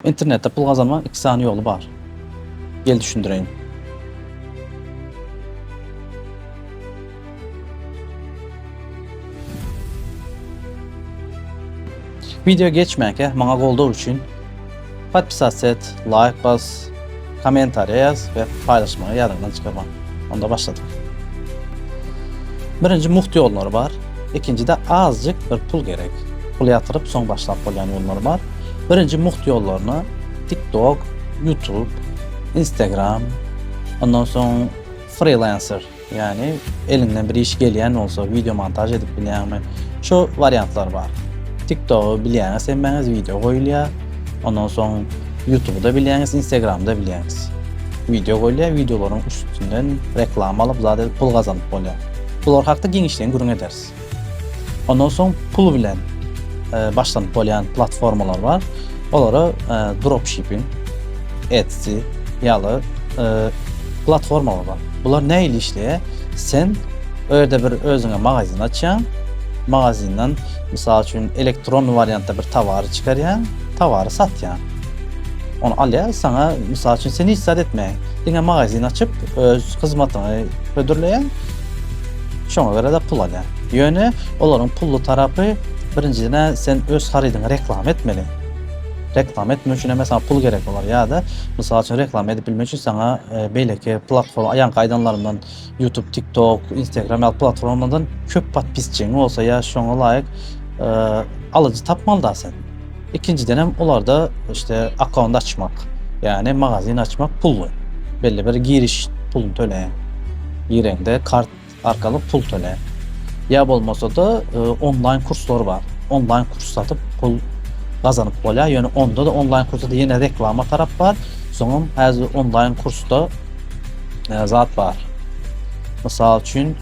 Internetde pul gazanmaň iki sany ýoly bar. Gel düşündireýin. Video geçmänkä maňa goldaw üçin podpisatset, laýk bas. Kommentariýas we paýlaşmagy ýadyňdan çykarmaň. Onda başladyk. Birinji mugt ýollary bar. Ikinjide azjyk bir pul gerek. Pul ýatyryp soň başlap bolýan ýollary bar. Birinji mugt ýollaryna TikTok, YouTube, Instagram, ondan soň Freelancer Ýagny eliňden bir iş gelýän bolsa wideo montaž edip bilýäňmi? Şu wariantlar bar. TikTok-y bilýäňiz hemmäňiz wideo goýulýar. Ondan soň YouTube-da bilýäňiz, Instagram-da bilýäňiz. Wideo goýulýar, wideolaryň üstünden reklama alyp zat edip pul gazanyp bolýar. Bular hakda giňişleýin gürrüň ederis. Ondan soň pul bilen başlanyp bolýan platformalar bar. Olara dropshipping, Etsy ýaly platformalar bar. Bular nähili işleýär? Sen o ýerde bir özüňe magazin açýaň. Magazinden mysal üçin elektron wariantda bir towary çykarýaň, towary satýaň. Ony alýar, saňa mysal üçin sen hiç zat etmeýäň. Diňe magazin açyp, öz hyzmatyňy hödürleýäň. Şoňa görä-de pul alýar. Ýöne olaryň pully tarapy, birinjiden-ä sen öz harydyňy reklama etmeli. Reklama etmek üçin hem-ä saňa pul gerek bolar. Ýa-da, mysal üçin, reklama edip bilmek üçin saňa beýleki platforma, ýaňky aýdanlarymdan, YouTube, TikTok, Instagram ýaly platformalardan köp podpisçigiň bolsa ýa şoňa laýyk alyjy tapmaly-da sen. Ikinjidenem olarda işte akkaunt açmak, ýagny magazin açmak pully. Belli bir giriş puluny töleýäň. Gireňde kart arkaly pul töleýäň. Ýa bolmasa-da onlaýn kurslar bar. Onlaýn kurs satyp pul gazanyp bolýar. Ýöne onda-da onlaýn kursda ýene reklama tarap bar. Soňam häzir onlaýn kursda zat bar. Mysal üçin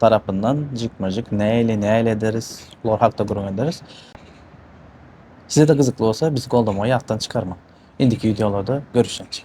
tarapyndan jikme-jik näýli näýli ederis olar hakda gürrüň ederis. Size-de gyzykly bolsa bizi goldamagy ýatdan çykarmaň. Indiki wideolarda görüşýänçik.